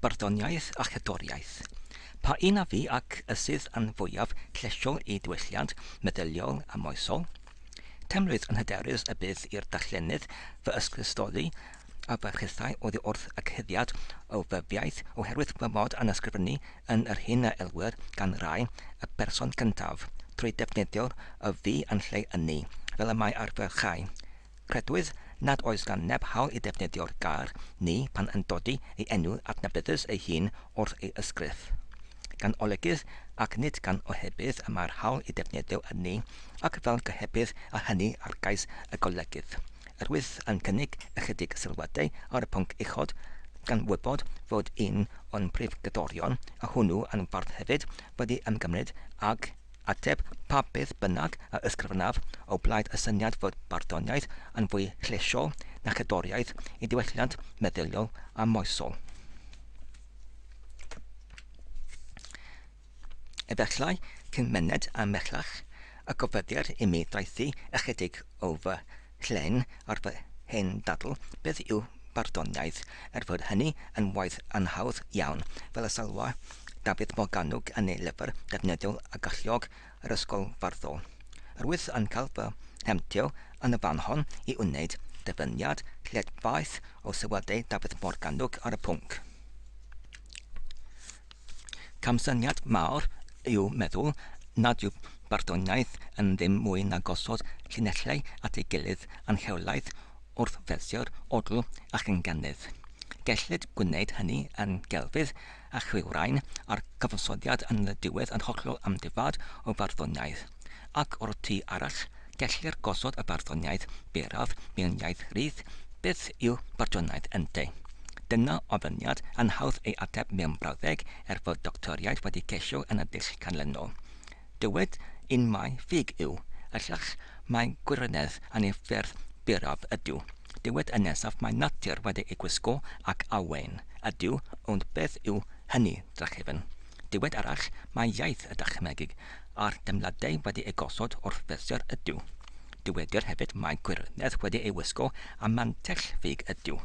Barddoniaeth a cherddoriaeth. Pa un a fu ac y sydd yn fwyaf llesiol i ddiwylliant meddyliol a moesol? Teimlwyd yn hyderus y bydd i'r darllenydd fy ysgrifstoli a fy hithau oddi wrth y cuddiad o fyfiaith oherwydd fy mod yn ysgrifennu yn yr hyn a elwir gan rai y person cyntaf, trwy ddefnyddio'r y fi yn lle ynni, fel y mae ar ferchau. Credwyd nad oes gan neb hawl i ddefnyddio'r gair ni pan yn dodi ei enw adnabyddus ei hun wrth ei ysgrif. Gan olygydd ac nid gan ohebydd y mae'r hawl i ddefnyddio y ni ac fel gohebydd a hynny ar gais y golygydd, Rwyf yn cynnig ychydig sylwadau ar y pwnc uchod, gan wybod fod un o'n prif gyddorion, a hwnnw yn fardd hefyd, wedi ymgymryd ag ateb pa beth bynnag a ysgrifennaf o blaid y syniad fod barddoniaeth yn fwy llesiol na cherddoriaeth i ddiwylliant meddyliol a moesol. Efallai cyn myned am mellach y gofyddir imi ddaethu ychydig o fy llên ar fy hen ddadl, beth yw barddoniaeth, er fod hynny yn waith anhawdd iawn, fel y sylwa Dafydd Morgannwg yn ei lyfr defnyddiol a galluog Yr Ysgol Farddol. Rwyf yn cael fy mhemtio yn y fan hon i wneud dyfyniad lled-faith o sylwadau Dafydd Morgannwg ar y pwnc. Camsyniad mawr yw meddwl nad yw barddoniaeth yn ddim mwy na gosod llinellau at ei gilydd yn rheolaidd wrth fersiau'r odl a chynganedd. Gellid gwneud hynny yn gelfydd a chriwrain a'r cyfansoddiad yn y diwedd yn hollol amddifad o farddoniaeth. ac o'r tu arall, gellir gosod y barddoniaeth beraf mewn iaith rydd, beth yw barddoniaeth ynddo? Dyna ofyniad anhawdd ei ateb mewn brawddeg er fod doctoriaid wedi ceisio yn y dull canlynol. Dywed un mai ffug yw, y llall mai gwirionedd anifeirdd beraf ydyw, dywed y nesaf mai natur wedi ei gwisgo ac awen ydyw, ond beth yw hynny, drachefn? Dywed arall mai iaith y dychmygig a'r deimladau wedi eu gosod wrth fesur ydyw. Dywedir hefyd mai gwirionedd wedi ei wisgo a mantell ffug ydyw.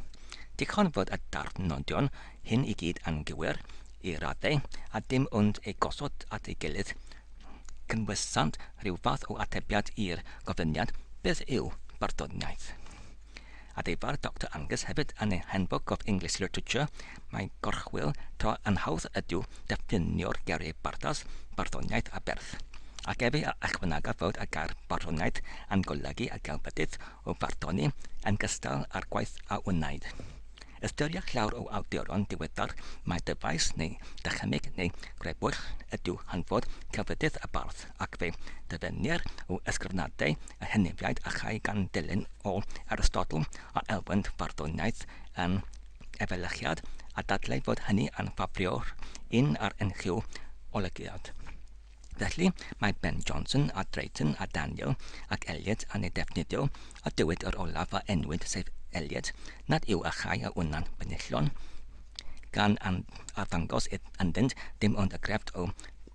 Dichon fod y darnodion hyn i gyd yn gywir, i raddau, a dim ond eu gosod at ei gilydd cynwysant rhyw fath o atebiad i'r gofyniad, Beth yw barddoniaeth? Addefar Doctor Angus hefyd yn ei Handbook of English Literature, Mae gorchwyl to anhawdd ydyw defnyddio'r geiriau bardas, barddoniaeth a berth. Ac efe a ychwanegaf fod y gair barddoniaeth yn golygu y gelfyddyd o farddoni yn gystal â'r gwaith a wnaed. Ystyriech llawer o awduron diweddar mai dyfais neu ddychymyg neu grebwll ydyw hanfod celfyddyd y bardd. ac fe ddyfynnir o ysgrifnadau y Henefiaid achau gan dilyn o Aristotl a elwent farddoniaeth yn efelychiad a dadlau fod hynny yn ffafrio'r un ar unrhyw olygiad. Felly, mae Ben Johnson a Drayton a Daniel ac Eliot yn ei defnyddio a dywed yr olaf a enwyd sef Eliot nad yw achau a wna'n benillion gan arddangos ynddynt dim ond y grefft o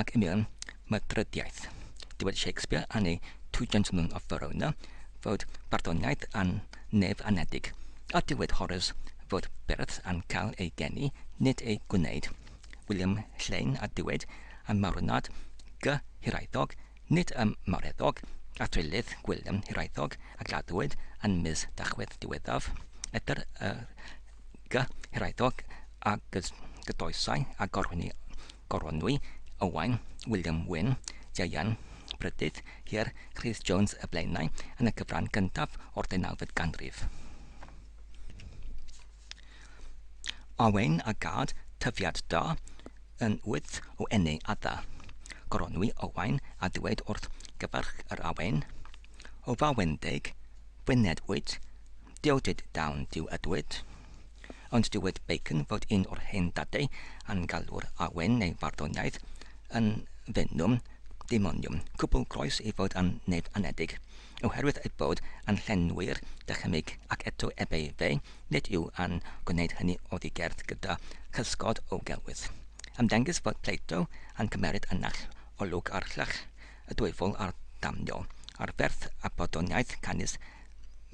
Ac yn union, mae'r drydiaith, dywed Shakespeare yn ei Two Gentlemen of Verona fod barddoniaeth yn nef anedig, a dywed Horace fod beirdd yn cael eu geni, nid eu gwneud, William Lleyn a dywed ym Mawrynad Gy Hiraethog, nid ym Mawreddog, a thryllith Gwilym Hiraethog a gladdwyd yn mis Dachwedd diweddaf, Edr y Gyrhaeddodd a gydoesai a gorwynwyd Owain, William Wyn, Ieuan, Brydydd, Hir, Rhys Jones y Blaenau yn y cyfran gyntaf o'r ddeunawfed ganrif. Owain a gad tyfiad da yn wyth o enni adda. Gorwynwyd Owain a ddweud wrth gyfarch yr awen, O fawendeg, fwyned wyt, Dywed Dawn Duw Ydwyd. Ond dywed Bacon fod un o'r hen dadau a'n galw'r awen neu farddoniaeth yn Venum Daemonium, cwbl groes ei fod yn nef anedig, oherwydd ei bod yn llenwi'r dychymyg, ac eto ebe fe, nid yw yn gwneud hynny oddi gerdd gyda chysgod o gelwydd. Ymddengys fod Plato yn cymeryd y naill olwg ar llych y dwyfol a'r damniol, ar ferth y barddoniaeth canys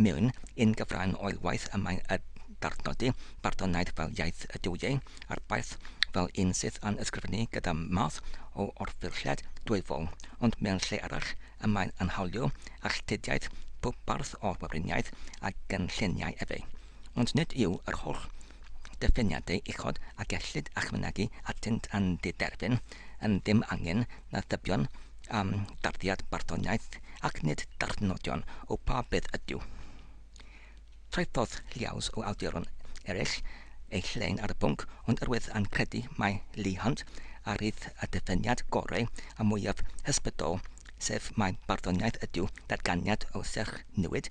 Mewn un gyfran o'i waith y mae'n adnodi barddoniaeth fel iaith y duwiau, a'r baich fel un sydd yn ysgrifennu gyda math o orffurfiad dwyfol, ond mewn lle arall y mae'n anhawlio alltudiaeth pob bardd o'r Weriniaeth a gynlluniai efe. ond nid yw yr holl gyffiniadau uchod a gellid a'ch mynegi atynt yn diderfyn, yn ddim angen na thybion am darddiad barddoniaeth, ac nid darthnodion o pa beth ydyw. Traethodd lliaws o awduron eraill eu llain ar y pwnc, ond yr wyf yn credu mai Leigh Hunt a rith y dyffyniad gorau a mwyaf hysbrydol, sef mai barddoniaeth ydyw datganiad o serch niwyd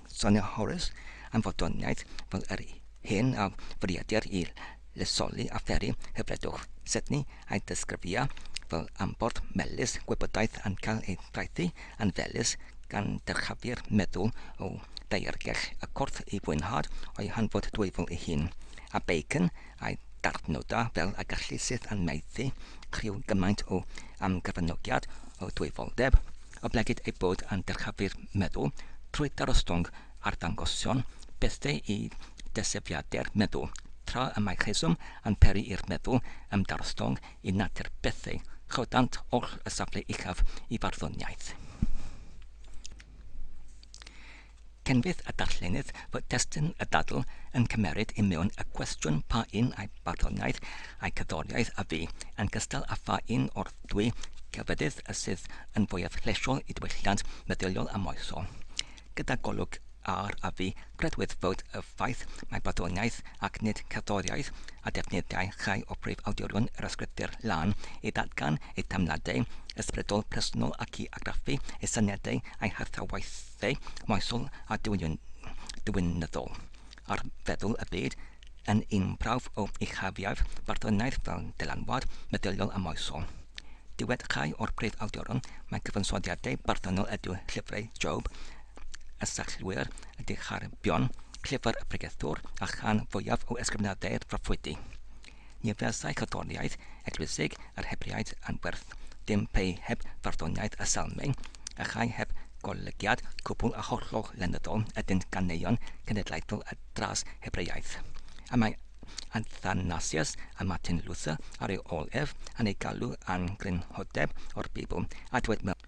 Sonio Horace am fodroniaeth fel yr hyn a fwriedir i lesoli a pheri hyfredwch Sydney a'i ddisgrifia fel amborth melys gwybodaeth yn cael ei draethu yn felys gan dyrchafu'r meddwl o ddaeargell y corff i fwynhad o'i hanfod dwyfol ei hun, a Bacon a'i darnodau fel y gallu syth yn maethu criw gymaint o amgyfranogiad o dwyfoldeb. Oblegid ei bod yn dyrchafu'r meddwl trwy ddarostwng arddangosion bethe i desefiade'r meddwl, tra y mae rheswm yn peri i'r meddwl ymdarostwng i natur bethe, rhyddhant oll y safle uchaf i farddoniaeth. Canfydd y darllenydd fod testun y ddadl yn cymeryd i mewn y cwestiwn pa un ai barddoniaeth ai cerddoriaeth a fu, yn gystal â pha un o'r ddwy gelfyddyd y sydd yn fwyaf llesiol i ddiwylliant meddyliol a moesol. Gyda golwg ar a fu, credwyd fod y ffaith mai barddoniaeth ac nid cerddoriaeth a defnyddiai rhai o brif awdurion yr Ysgrythur Lân i ddatgan eu teimladau ysbrydol presennol ac i argraffu eu syniadau a'u hathrau Fe'i moesol a diwinyddol ar feddwl y byd yn un prawf o uchafiaeth Bartholonaidd fel dylanwad meddyliol a moesol. Dywed rhai o'r prif awduron mai cyfansoddiadau barddonol ydyw llyfrau Job, y Sallwyr, y Dicharibion, Llyfr y Pregethwr, a rhan fwyaf o ysgrifenadau'r Proffwydi. Ni fuasai cerddoriaeth eglwysig yr Hebraeaid yn werth dim pe heb farddoniaeth y Salmau, a chai heb golygiad cwbl a hollol lenyddol ydynt ganeuon cenedlaethol y Dras-Hebraeaeth. A mae Athanasius a Martin Luther ar ei ol ef, yn ei galw yn grynhodeb o'r Beibl, a dweud mewn.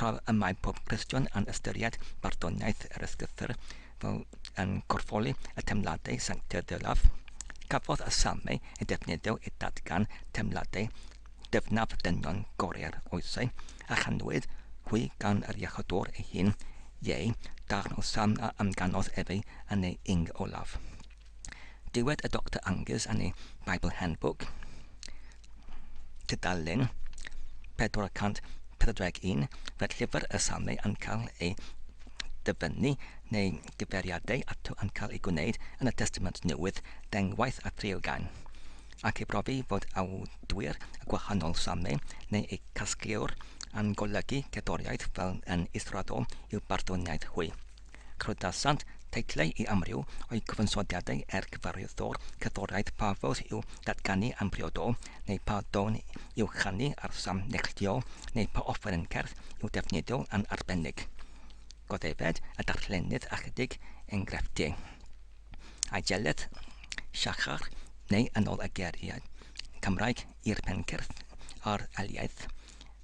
Tra y mae pob Cristion yn ystyried barddoniaeth yr Ysgrythur fel yn corffoli y teimladau sanctaidd ddelaf, cafodd y Salmau eu defnyddio i ddatgan teimladau dyfnaf dynion goreu'r oesau a chanwyd hwy gan yr Iachawdwr ei hun, ieu, darn o Salm a amganodd efe yn ei ing olaf. Dywed y Doctor Angus yn ei Bible Handbook, tudalen 441, fod llyfr y Salmau yn cael ei dyfynnu neu gyfeiriadau ato yn cael eu gwneud yn y Testament Newydd ddengwaith a threialgan, ac ei brofi fod awdur y gwahanol salmau neu eu casgliwr yn golygu cerddoriaeth fel yn israddol i'w barddoniaeth hwy. Cerdasant teitlau i amryw o'i gyfansoddiadau er cyfarwyddwr cerddoriaeth pa fywyd i'w datganu am briodo, neu pa dôn i'w chanu ar sam neilltuol, neu pa offeryn cerdd i'w defnyddio yn arbennig. Goddefed y darllenydd ychydig engrefftiau. Aegeledd, Siachar, neu yn ôl y geiriau Cymraeg i'r pencyrdd a'r eliaeth,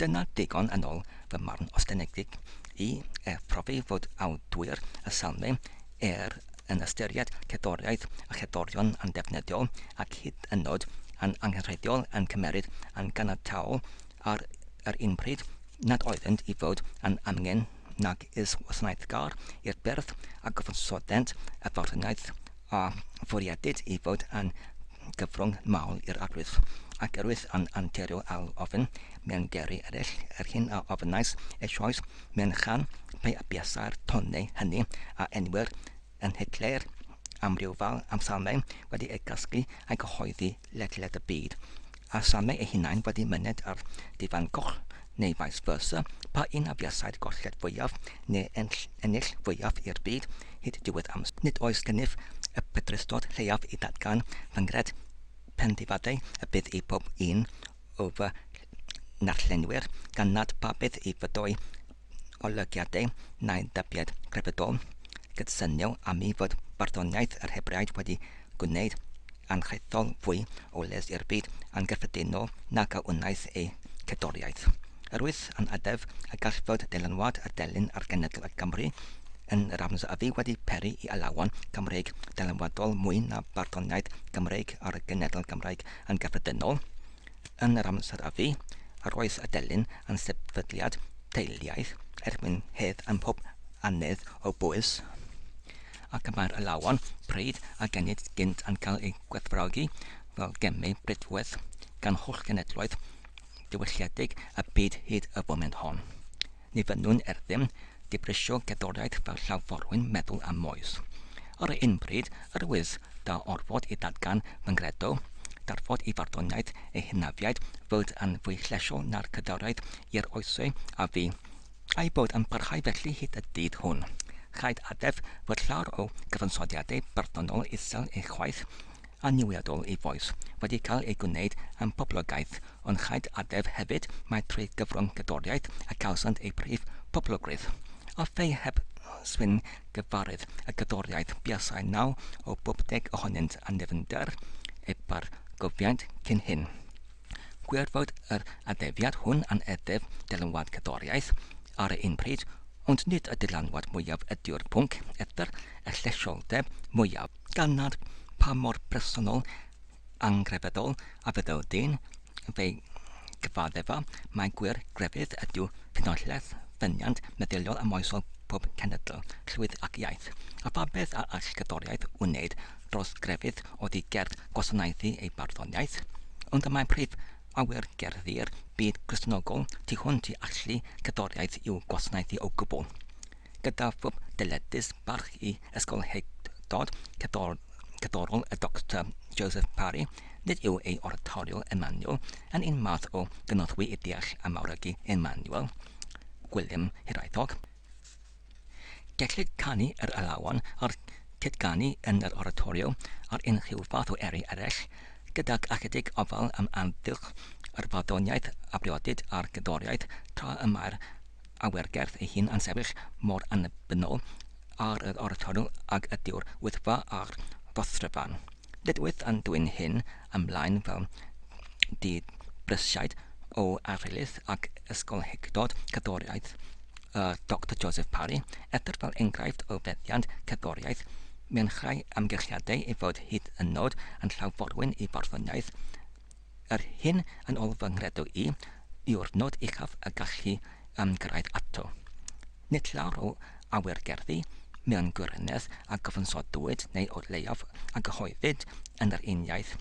Dyna ddigon yn ol fy marn ostyngedig i er profi fod awdwyr y salme er yn ystyried cerddoriaeth a cherddorion andefnyddiol ac hyd yn nod yn angenrheidiol yn cymeryd yn ganiataol ar yr un pryd nad oeddynt i fod yn amgen nag is wasanaethgar i'r byrdd a gyfansodent y farwnaeth a fwriadid i fod yn gyfrwng mawr i'r arwydd, ac erwydd yn anturio ar ofn mewn geri eraill, yr hyn a ofynais eisoes mewn chan pe a buasai'r tonnau hynny a enwir yn Hitler am ryw fal am samau wedi eu casglu a'i gyhoeddi ledled y byd, a samau eu hunain wedi myned ar difan goll, neu vice versa, pa un a fuasai'r golled fwyaf neu ennill fwyaf i'r byd hyd diwedd amser. Nid oes gennyf y pedrustod lleiaf i ddatgan fy nghred pen ddifadau y bydd i bob un o fy narllenwyr, gan nad pa beth i fyddoi olygiadau na'i dybied grefyddol, cydsynio â mi fod barddoniaeth yr Hebraeg wedi gwneud yn hethol fwy o les i'r byd yn gyffredinol nag a wnaeth ei cerddoriaeth. Yr wyf yn addef y gall fod dylanwad y delyn ar genedl y Gymry, yn yr amser a fu wedi peri i alawon Cymreig ddylanwadol mwy na barddoniaeth Gymreig ar y genedl Gymraeg yn gyffredinol. Yn yr amser a fu, yr oes a delyn yn sefydliad teiliaeth erbyn hedd ym mhob annedd o Bowys, ac y mae'r alawon pryd a genid gynt yn cael eu gwerthfawrogi fel gemau prydferth gan holl genedloedd diwylliedig y byd hyd y foment hon. Ni fynnwn er ddim dibrisio gerddoriaeth fel llaw forwyn meddwl a moes. Ar un pryd, yr wyf da orfod i ddatgan fy nghredo, darfod i farddoniaeth ei hynafiaid fod yn fwy llesiol na'r cadwraeth i'r oesau a fu, a'i bod yn parhau felly hyd y dydd hwn. Rhaid addef fod llawer o gyfansoddiadau barddonol isel ei chwaeth, anniwiadol i Vois wedi cael ei gwneud yn poblogaidd, ond rhaid addef hefyd mai trwy gyfrwng gerddoriaeth y cawsant eu prif boblogrwydd. A phei heb swyn gyfarwydd y gerddoriaeth buasai naw o bob deg ohonynt â nefnder eu bargofiant cyn hyn. Gwir fod yr addefiad hwn yn addef dylanwad cerddoriaeth ar y un pryd, ond nid y dylanwad mwyaf ydyw'r pwnc, eithr y llesholdeb mwyaf. gan nad pa mor bersonol, anghrefyddol a fyddai'r dyn yn fy gyfaddefa, mai gwir grefydd ydyw ffynhonnell ffyniant meddyliol a moesol pob cenedl, llwyth ac iaith, a pha beth a all gerddoriaeth wneyd dros grefydd oddi gerdd gwasanaethu ei barddoniaeth? Ond y mae prif awyr gerddi'r byd Gristnogol tu hwnt i allu cerddoriaeth i'w gwasanaethu o gwbl. gyda phwb dyledus barch i ysgolheictod cerddorol y Doctor Joseph Parry, nid yw ei oratorio Emmanuel yn un math o gynorthwy i ddeall a mawrygu Emmanuel, Gwilym Hiraethog. Gellid canu yr alawon a'r cydganu yn yr oratorio ar unrhyw fath o eri eraill, gydag ychydig ofal am amgylch yr farddoniaeth, abriodid a'r gerddoriaeth, tra y mae'r awyrgyrch ei hun yn sefyll mor annibynnol ar yr orffennol ag ydyw'r Wyddfa a'r Rhostryfan. Nid wyf yn dwyn hyn ymlaen fel dibrysiad o arylith ac ysgolheictod cerddoriaeth y Doctor Joseph Parry, edr fel enghraifft o feddiant cerddoriaeth mewn rhai amgylchiadau ei fod hyd yn nod yn llaw forwyn i farddoniaeth Yr hyn yn ôl fy nghredo i, yw'r nod uchaf y gallu ymgyrraedd ato. Nid llawer o awyr gerddi, mewn gwirionedd, a gyfansodwyd, neu o leiaf a gyhoeddid, yn yr uniaith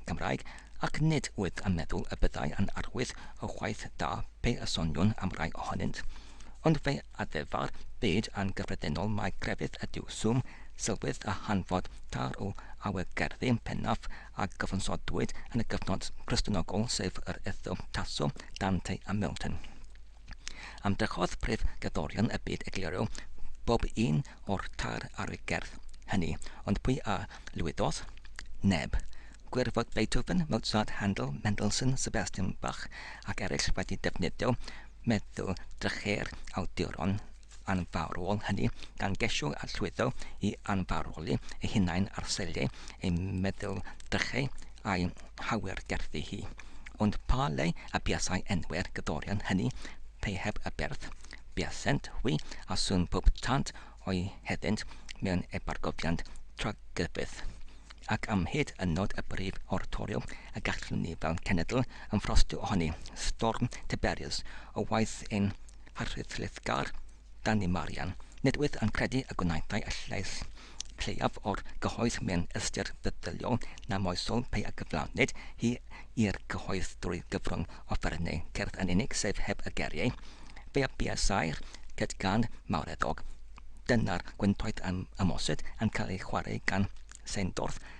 Gymraeg, ac nid wyf yn meddwl y byddai yn arwydd o waith da pe y soniwn am rai ohonynt. Ond fe addefar byd yn gyffredinol mai crefydd ydyw swm, sylwedd a hanfod târ o awyr gerddi pennaf a gyfansodwyd yn y gyfnod Cristionogol sef yr Ethel, Tasso, Dante a Milton. Ymdrechodd prif gerddorion y byd egluro bob un o'r tair ar y gerdd hynny, ond pwy a lwyddodd? Neb. Gwir fod Beethoven, Mozart, Handel, Mendelssohn, Sebastian Bach ac eraill wedi defnyddio meddwl drychu'r awduron anfarwol hynny gan gesio a llwyddo i anfarwoli ei hunain ar selliau ei meddylfrychau a'i hawyrgerddi hi. Ond pa le a buasai enwau'r gyddorion hynny pe heb y berth? Buasent hwy a sŵn pob tant o'u heddynt mewn ebargofiant tragryfydd. Ac am hyd yn nod y brif oratorio y gallwn ni fel cenedl ymffrostio ohoni, storm Tiberius o waith ein a rhyddhliwgar Danny Marian, nid wyf yn credu y gwnaethai y llais lleiaf o'r gyhoedd mewn ystyr feddyliol na moesol pe a gyflawnid hi i'r cyhoedd drwy gyfrwng offerynnau cerdd yn unig sef heb y geriau, fe a buasai'r ced gan mawreddog. Dyna'r gwentoedd ym Ymosyd yn cael ei chwarae gan Seindorf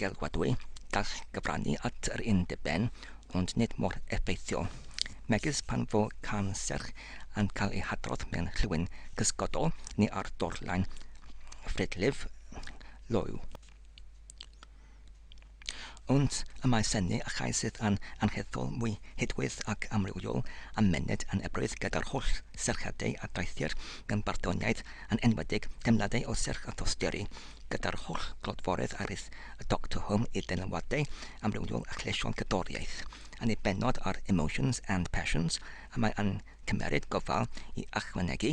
Geidwadwy, gall gyfrannu at yr un diben ond nid mor effeithiol, megis pan fo cân serch yn cael ei hadrodd mewn rhywun cysgodol neu ar dorlan ffridlif loyw. Ond y mae sennu a chau sydd yn angheuol mwy hudwydd ac amrywiol a myned yn ebrwydd gyda'r holl serchiadau a daethir mewn barddoniaeth yn enwedig teimladau o serch a thosturi gyda'r holl glodforedd arith y Doctor Whom i'r dylanwadau amrywiol a chleision cerddoriaeth, yn ei bennod ar Emotions and Passions, y mae yn cymmeryd gofal i ychwanegu,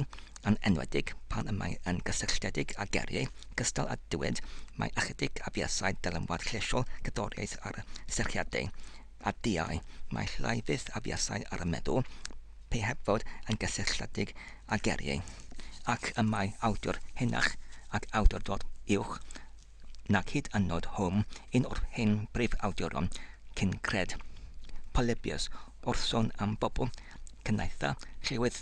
yn enwedig pan y mae yn gysylltiedig â geriau cystal a dywed mai ychydig afiasai dylanwad chleisiol cerddoriaeth ar y serchiadau A diau, mae llai fyth a fuasai ar y meddwl, pe heb fod yn gysylltiedig â geriau, ac y mae awdur henach ac awdurdod uwch nag hyd yn nod Home, un o'r hen brif-awduron cyn-gred, Polybius, wrth sôn am bobl cynaetha' llywydd.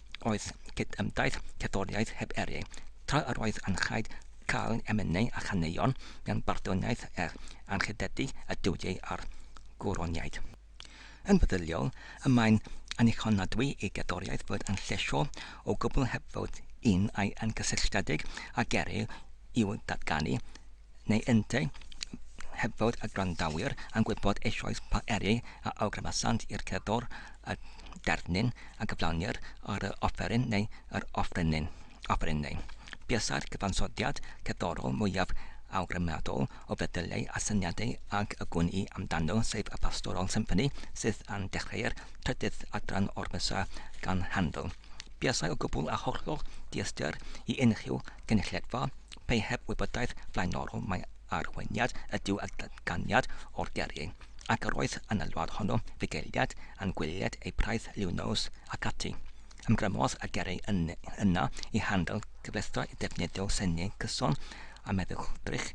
Oedd cydymdaith cerddoriaeth heb eri, tra yr oedd yn rhaid cael emynau a chaneuon mewn barddoniaeth er anrhydeddu y duwiau a'r gwroniaid. Yn feddyliol, y mae'n annichonadwy i gerddoriaeth fod yn llesio o gwbl heb fod un ai yn gysylltiedig ag eri i'w datganu, neu yntau, heb fod y gwrandawyr yn gwybod eisoes pa eri a awgrymesant i'r cerddor y derfynyn a gyflawnir ar yr offeryn neu yr offerynnyn, offerynnau. Buasai'r cyfansoddiad cerddorol mwyaf awgrymadol o feddyliau a syniadau ag y gwn i amdano, sef y Pastoral Symphony, sydd yn dechreu'r trydydd adran o'r Missa gan Handel. Buasai o gwbl a hollol diystyr i unrhyw gynulledfa Pe heb wybodaeth flaenorol mai arweiniad ydyw y datganiad o'r gerrig, ac yr oedd yn y wlad honno fugeiliad yn gwylied ei praeth liw nos ac ati. Ymgrymodd y gerrig yna i handl cyfleustra i ddefnyddio syniau cyson a meddwlldrych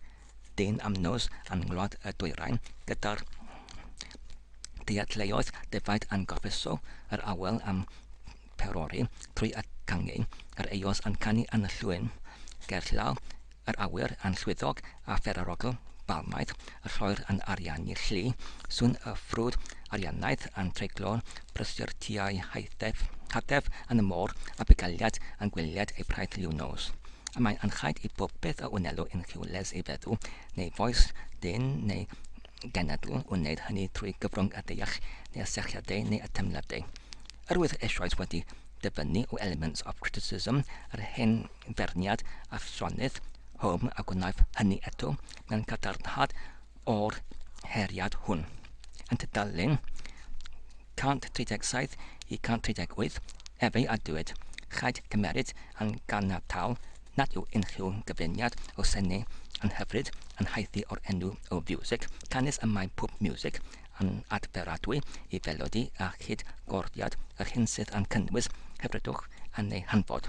dyn am nos yn ngwlad y dwyrain, gyda'r dealluoedd defaid yn gorffeso yr awel am Perori trwy y cangheu, yr eos yn canu yn y llwyn, gerllaw yr awyr yn llwythog a pherarogl balmaidd y lloer yn ariannu llu, sŵn y ffrwd arianaidd yn treiglo'r brysur tua'i haethef, hatef yn y môr a bugailiad yn gwiliad ei praeth liw nos. A mae'n anchaid i bob peth a wnelo yn Rhiwles ei feddw, neu fois dyn neu genedl wneud hynny trwy gyfrwng y deall neu y sychiadau neu y teimladau. Yr oedd eisoes wedi dyfynnu o Elements of Criticism yr hen ferniad Afronydd Home a gwnaiff hynny eto mewn cadarnhad o'r heriad hwn. Yn tudalen 137 i 138 efe a dywed, Rhaid cymeryd yn ganiataol nad yw unrhyw gyfuniad o sene yn hyfryd yn haeddu o'r enw o fiwsig canys y mae pob miwsig yn adferadwy i felodi a chyd gordiad yr hyn sydd yn cynnwys hyfrydwch yn ei hanfod.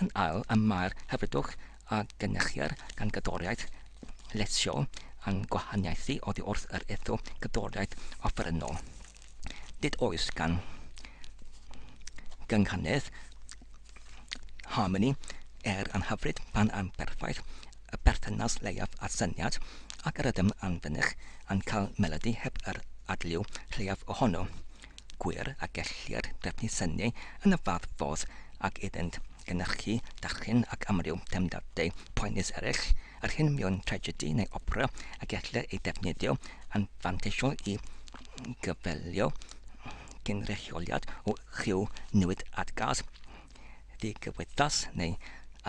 Yn ail y mae'r hyfrydwch a gynyrchier gan gyddoriaeth llesiol yn gwahaniaethu oddi wrth yr etho gyddoriaeth offerynnol. Nid oes gan gynghynnydd Harmony, er yn hyfryd pan yn berffaith, y berthynas leiaf â syniad, ac y rydym yn fynych yn cael melodi heb yr adliw lleiaf ohono. Gwir y gellir trefnu syniau yn y fath fodd ac iddynt gynhyrchu, darllen ac amryw deimladau poenus eraill, yr hyn mewn tragedi neu opera y gellir ei ddefnyddio yn fanteisiol i gyfeillio gynrychioliad o ryw newid at gas ddigwyddas neu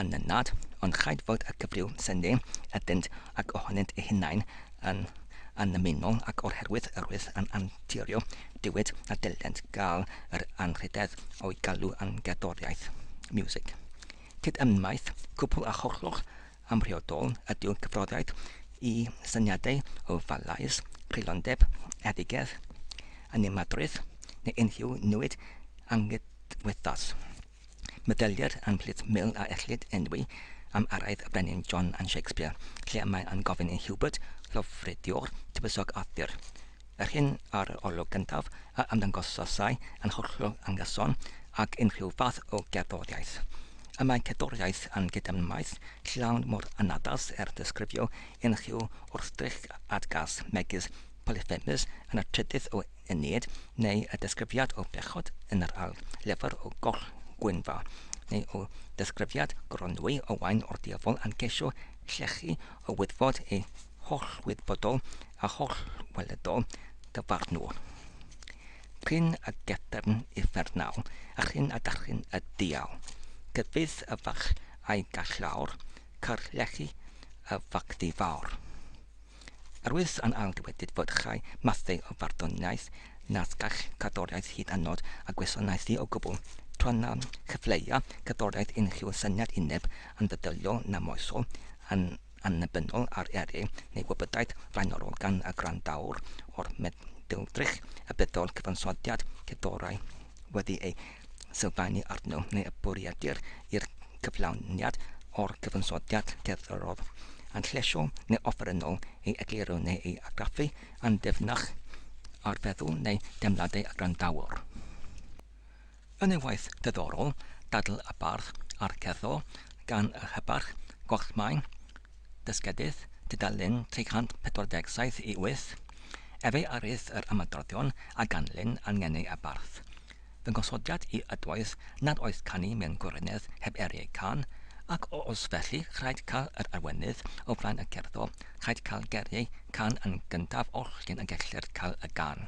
anynad, ond rhaid fod y cyfryw sy'n eu adenydd ac ohonynt eu hunain yn annymunol ac o'r herwydd yr wyf yn anturio dywed a dylent gael yr anrhydedd o'i galw yn gerddoriaeth, music. Cydymmaith cwbl a hollol Amhriodol ydyw cyffroddiaeth i syniadau o falaise, creulondeb, eddugedd, animadrwydd, neu unrhyw newid anghydwythos. Meddylier yn plith mil a ellid enwi am araith y brenin John yn Shakespeare, lle y mae yn gofyn i Hubert, llofruddiwr tywysog Arthur, Yr hyn ar yr olwg gyntaf a ymddangosasai yn hollol anghyson ag unrhyw fath o gerddoriaeth. Y mae cerddoriaeth yn gydymmaeth llawn mor anaddas er disgrifio unrhyw wrthddrych adgas megis Polyphemus yn y trydydd o Eneid neu y disgrifiad o bechod yn yr ail lyfr o Goll Gwynfa neu o ddisgrifiad Gronwy Owain o'r diafol yn ceisio llechu o wyddfod ei hollwybodol a hollweledol dyfarnwr, prin a gefn uffernol, a chyn a dachyn y diawl, cyfieith y ferch a'i gall lawr, carllechi y fagddu fawr. Yr wyf yn ail dywedyd fod rhai mathau o farddoniaeth nad gall cerddoriaeth hyd yn nod a gwasanaethu o gwbl, tra na chyfleua cerddoriaeth unrhyw syniad uneb yn feddyliol na moesol, yn annibynnol ar eri neu wybodaeth flaenorol gan y gwrandawr o'r meddylfrych y byddai'r cyfansoddiad cerddorol wedi ei sylfaenu arno neu y bwriedir i'r cyflawniad o'r cyfansoddiad cerddorol yn llesio neu offerynnol ei egluro neu ei argraffu yn ddyfnach ar feddwl neu deimladau y gwrandawr. Yn ei waith diddorol, Dadl y Bardd a'r Cerddor, gan y Rhybarch, Gorchmai, Dysgedydd, tudalen 347 i 8, efe a rydd yr ymadroddion a ganlyn a ngeni y bardd. Fy nghosodiad i ydoedd nad oedd canu mewn gwirionedd heb eri ei cân, ac os felly rhaid cael yr arweinydd o flaen y cerddor, rhaid cael geriau cân yn gyntaf oll cyn y gellir cael y gân.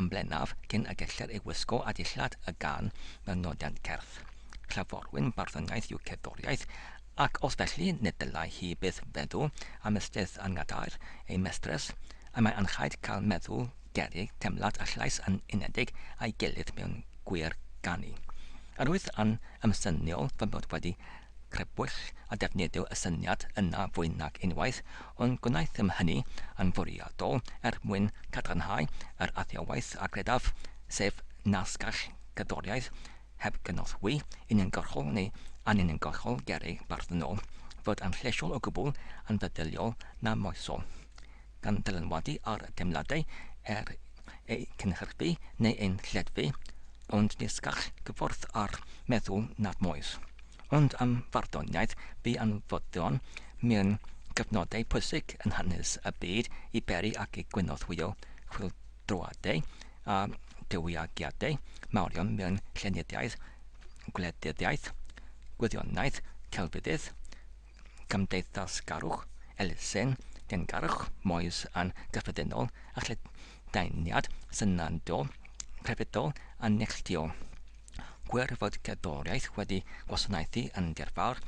yn bennaf cyn y gellir ei wisgo a dillad y gân mewn nodiant cerdd. Clyfrwyn barddoniaeth yw cerddoriaeth, ac os felly nid dylai hi byth feddw am ystydd a ngadair ei mestres, y mae anrhaid cael meddw gerrig temlad a llais yn unedig a'i gilydd mewn gwir ganu. Yr wyf yn ymsyniol fy mod wedi Crybwyll a defnyddio y syniad yna fwy nag unwaith, ond gwnaethom hynny yn fwriadol er mwyn cadarnhau yr athrawiaeth a gredaf, sef nasgell gerddoriaeth heb gynorthwy uniongyrchol neu anuniongyrchol gerrig barddonol, fod yn llesiol o gwbl anfeddyliol na moesol. gan dylanwadu ar deimladau er eu cynhyrchu neu ein lleddfu, ond nes gall gyffordd â'r meddwl nad moes. Ond am farddoniaeth bu anfodlon mewn cyfnodau pwysig yn hanes y byd i beri ac i gynorthwyo chwyldroadau a diwygiadau mawrion mewn llenyddiaeth, gwleidyddiaeth, gwyddoniaeth, celfyddyd, Cymdeithasgarwch, elusen dyngarwch moes yn gyffredinol a lledaeniad synadol crefyddol yn neilltuol. Gwir fod cerddoriaeth wedi gwasanaethu yn dirfawr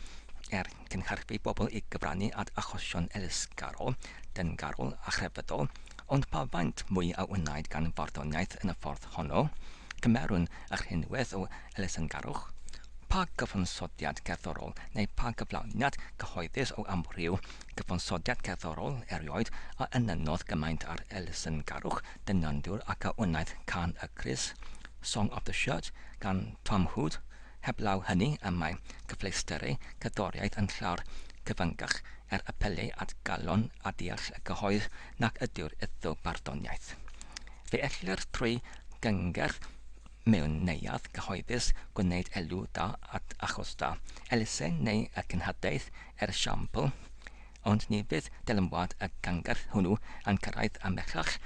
er cynhyrchu pobl i gyfrannu at achosion elusgarol, dyngarol a chrefyddol, ond pa faint mwy a wnaed gan farddoniaeth yn y ffordd honno? Cymerwn y rhinwedd o Elusenngarwch, pa gyfansoddiad cerddorol neu pa gyflawniad cyhoeddus o amryw gyfansoddiad cerddorol erioed a enynnodd gymaint â'r elusenngarwch dynanddwr ac a wnaeth Can y Crys, Song of the Shirt, gan Tom Hood? Heblaw hynny, y mae cyfleusterau cerddoriaeth yn llawer cyfyngach er apelu at galon a deall y cyhoedd nac ydyw'r ethnobarddoniaeth. Fe ellir trwy gyngerdd mewn neuadd gyhoeddus gwneud elw da at achos da, elusen neu y cenhadaeth er esiampl, ond ni fydd dylanwad y gyngerdd hwnnw yn cyrraedd ymhellach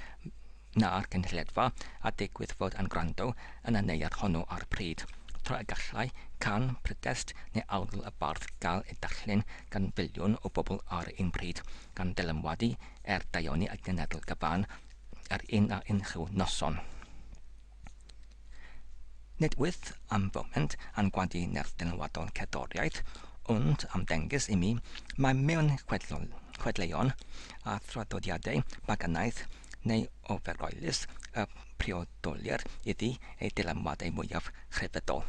na'r gynulleidfa a digwydd fod yn gwrando yn y neuadd honno ar y pryd, tra y gallai can, prydest neu algl y bardd gael ei darllen gan filiwn o bobl ar un pryd, gan ddylanwadu er daioni y genedl gyfan yr un a unrhyw noson. Nid wyf am foment yn gwadu nerth dynwaddol cerddoriaeth, ond am ddengys i mi mai mewn chwedleuon a thraddodiadau paganaidd neu ofergoelus y priodolir iddi ei dylanwadau mwyaf chrefyddol.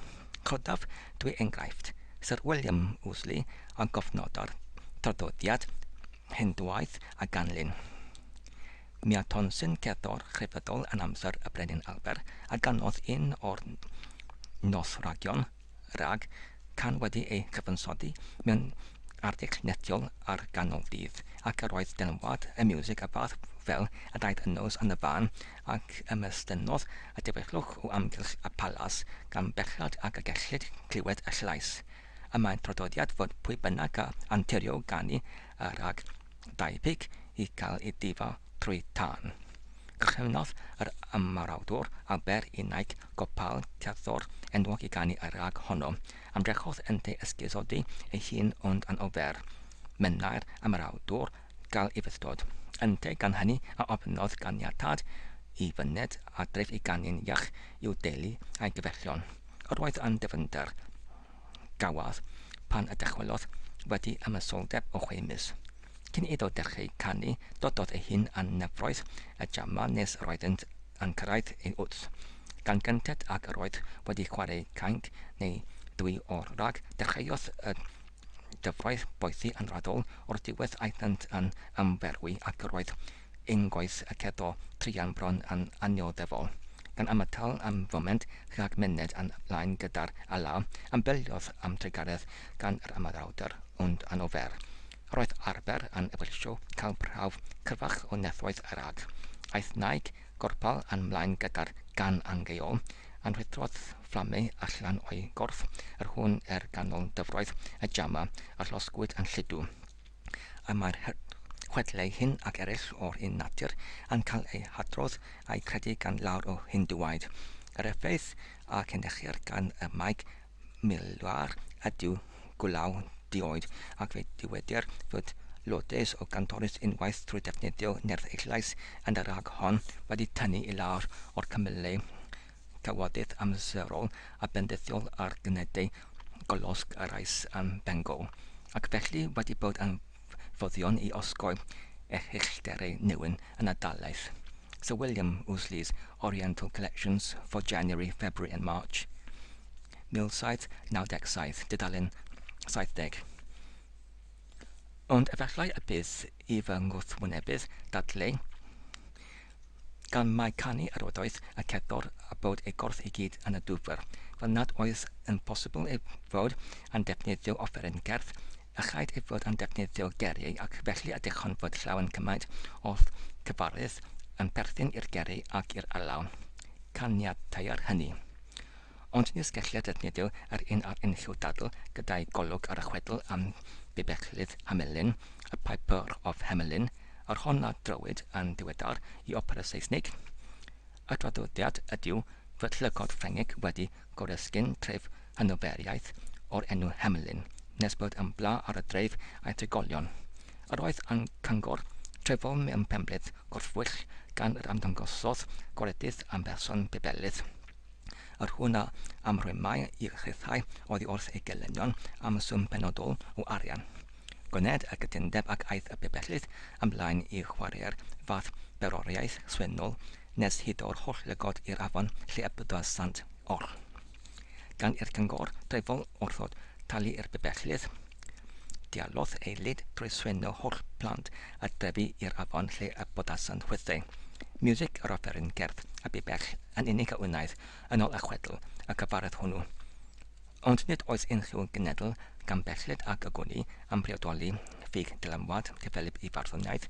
Codaf dwy enghraifft, Syr William Ouseley a gofnododd traddodiad Hindŵaidd a ganlyn. Mi a Tonsin gerddor chrefyddol yn amser y Brenin Albert, a ganodd un o'r noswragion rag can wedi ei chyfansoddi mewn arddull netiol ar ganol dydd, ac yr oedd dynwad y miwsig y fath fel y daeth y nos yn y fan, ac ymestynnodd y diwellwch o amgylch y palas gan bechod ag y gellid clywed y llais. Y mae traddodiad fod pwy bynnag a anturio ganu y rag, debyg i gael ei difa trwy dân. Cychwynnodd yr ymarawdwr Aber Inaig Gopal, cerddor enwog i ganu ar rag honno. Ymdrechodd ynddi ysgusodi ei hun ond yn ofer, mynnai'r ymarawdwr, gael ei fythdod. Ynteu gan hynny a ofynnodd ganiatâd i fyned adref i ganu'n iach i'w deulu a'i gyfellion. Yr oedd yn dyfnder. gafodd pan y dychwelodd wedi ymysoldeb o chwe mis. Cyn iddo dechreu canu, dododd ei hun â nyfroedd y Jama nes roeddynt yn cyrraedd ei wddf, gan gynted ag yr oedd wedi chwarae cainc neu ddwy o'r rhag, dechreuodd y dyfroedd boethi yn raddol, o'r diwedd aethant yn ymferwi ac yr oedd ein gwaith a ceddo druan bron yn annioddefol. Gan ymatal am foment rhag myned yn blaen gyda'r ala, ambelliodd am drugaredd gan yr ymadawdr, ond anofer. Roedd arfer yn Ebersio cael prawf cryfach o nethoedd yr ag. Aeth Naig Gorpal yn mlaen gyda'r gan angheuol, yn rhuthrodd fflamau allan o'i gorff yr hwn er ganol dyfroedd y jama a llosgwyd yn lludw. y mae'r chwedlau hyn ac eraill o'r un natur yn cael eu hadrodd a'u credu gan lawr o Hindŵaid. Yr effaith a cynhyrchir gan y Maig Milwar ydyw gwlaw dioed, ac fe dywedir fod Lourdes o Gantoris unwaith trwy ddefnyddio nerth eislais yn y rhag hon wedi tynnu i lawr o'r cymylau trafodaeth amserol a bendithiol ar gynnyddau golosg a rais ym Bengal, ac felly wedi bod yn fuddion i osgoi erchyllterau neu'n anadalaeth. Sir William Ouseley's Oriental Collections for January, February and March, 1797, dudalen 70. Ond efallai y bydd i fy ngwrthwynebydd ddadlau gan mai canu yr ydoedd y cerddor a bod ei gorff i gyd yn y dwfr, fel nad oedd yn bosibl ei fod yn defnyddio offeryn gerdd, ychwaith ei fod yn defnyddio geri ac felly a dychonfod llawen cymaint o cyfarwydd yn perthyn i'r geri ac i'r alaw. Caniatai'r hynny. Ond ni sgellai Dadnidil yr un ar unrhyw dadl gyda'i golwg ar y chwedl am Bibellydd Hamelin, A Piper of Hamelin, yr hon a drowyd yn ddiweddar i opera Seisnig. Y traddodiad ydyw fod llygod Ffrengig wedi goresgyn tref Hanoferiaeth o'r enw Hamelin, nes bod yn bla ar y dref a'i drigolion. Yr oedd yn cyngor trefol mewn penbleth gorffwyll gan yr ymddangosodd goredydd yn berson Bibellydd. Yr hwn a amrymai i'r rhithau oddi wrth ei gelynion am swm penodol o arian. Gwnaed y cytundeb ac aeth y pibellydd ymlaen i chwarae'r fath beroriaeth swynol nes hyd o'r holl lygod i'r afon lle y bydda sant oll. Gan i'r cyngor dreifol wrthod talu i'r pibellydd, dialodd ei lid drwy swyno holl blant y drefi i'r afon lle y bodasant chwythau music yr offeryn gerdd a bibell yn unig a wnaed yn ôl y chwedl y cyfaredd hwnnw. Ond nid oes unrhyw genedl gan belled ag ogoni am briodoli ffug dylanwad cyffelyb i farddoniaeth,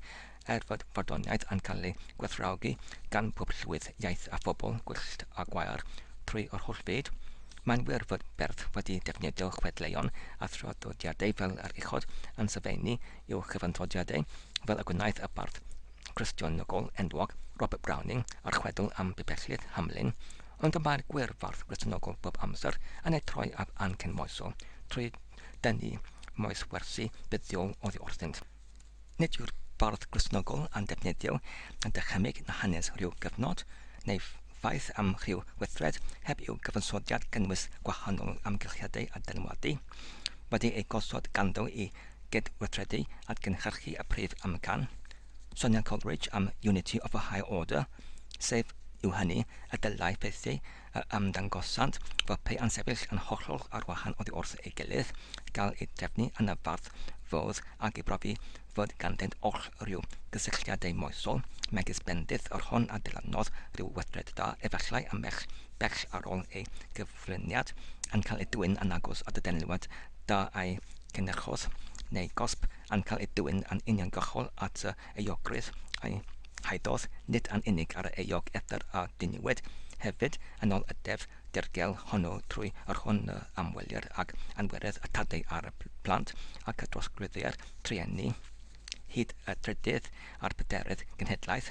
er fod farddoniaeth yn cael ei gwerthfawrogi gan bob llwyth iaith a phobl gwyllt a gwair trwy yr holl fyd. Mae'n wir fod beirdd wedi defnyddio chwedleuon a thraddodiadau fel yr uchod yn sylfaenu i'w chyfansoddioadau, fel y gwnaeth y bardd Gristnogol enwog Robert Browning a'r chwedl am bibellid Hamlin, ond y mae'r gwyrfardd Gristnogol bob amser yn ei troi ar ancen moesol trwy dynnu moes wersi buddiol oddi wrthynt. Nid yw'r bardd Gristnogol yn defnyddio dychymyg na hanes rhyw gyfnod, neu faith am rhyw weithred heb i'w gyfansoddiad gynnwys gwahanol amgylchiadau a dylanwadu, wedi eu gosod ganddo i gydweithredu at gynhyrchu y prif amcan, Sonia Coleridge am Unity of a Higher Order, sef yw hynny, y dylai ffeithiau yr ymddangosant fel pe yn sefyll yn hollol ar wahan oddi wrth ei gilydd, gael eu trefnu yn y fardd fawr ac ei brofi fod ganddynt oll rhyw gysylltiadau moesol, megis bendith yr hon a ddylannodd rhyw weithred da efallai ambell bell ar ôl ei gyflwyniad, yn cael ei dwyn yn agos at y denliwad da a'i cynhyrchwr neu gosb yn cael ei dwyn yn uniongyrchol at yr euogrwydd a'i haeddodd, nid yn unig ar yr euog edr a ddiniwed, hefyd yn ôl y deddf dirgel hwnnw trwy yr hwn yr amwelir ag anwerydd y tadau ar y plant ac y trosglwyddia'r trueni hyd y trydydd a'r pedarydd genhedlaeth.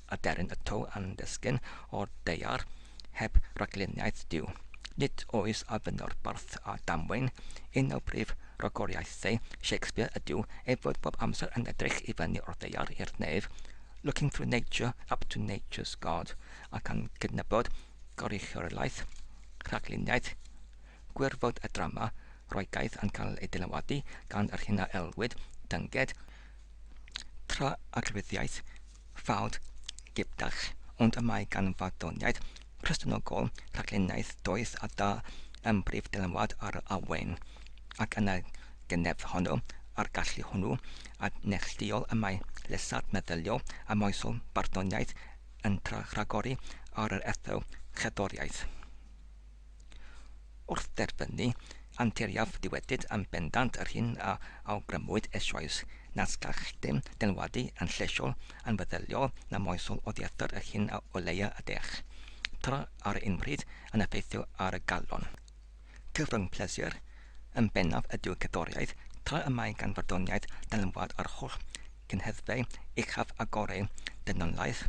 aderyn y to a'n desgyn o'r daear heb ragluniaeth Duw. Nid oes a fynno'r bardd a damwain un o brif ragoriaethau Shakespeare ydyw ei fod bob amser yn edrych i fyny o'r ddaear i'r nef, looking through nature up to nature's God, ac yn cydnabod gorichloriaeth, rhagluniaeth, gwirfod y drama Roegaidd yn cael ei dylanwadu gan yr hyn a elwid dynged, tra-arglwyddiaeth, fawr gydag, ond mae gan farddoniaeth Cristnogol rhaglennaeth doeth a da ym mhrif ddylanwad ar yr Awen, ac yn y genhedl honno, a'r gallu hwnnw a neillduol y mae llesâd meddyliol a moesol barddoniaeth yn tra-rhagori ar yr etho-cherddoriaeth. Wrth dderbynu anturiaeth dywedyd yn bendant yr hyn a awgrymwyd eisoes, nad gall dim dynwadu yn llesiol, yn feddyliol na moesol oddiarthur yr hyn a oleua y dech, tra ar un pryd yn effeithio ar y galon. Cyfrwng pleser yn bennaf ydyw cerddoriaeth, tra y mae gan farddoniaeth dynwad yr holl gynheddfau uchaf a goreu dynoliaeth,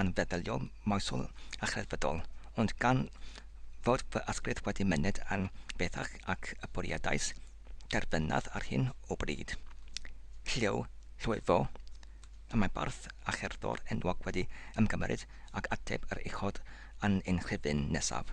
yn feddyliol, moesol a chreddfydol, ond gan fod fy ysbryd wedi myned yn bellach ac y bwriadais derfynaf ar hyn o bryd, Llyw Llwyfo, y mae bardd a cherddor enwog wedi ymgymeryd ag ateb yr uchod yn ein rhifyn nesaf.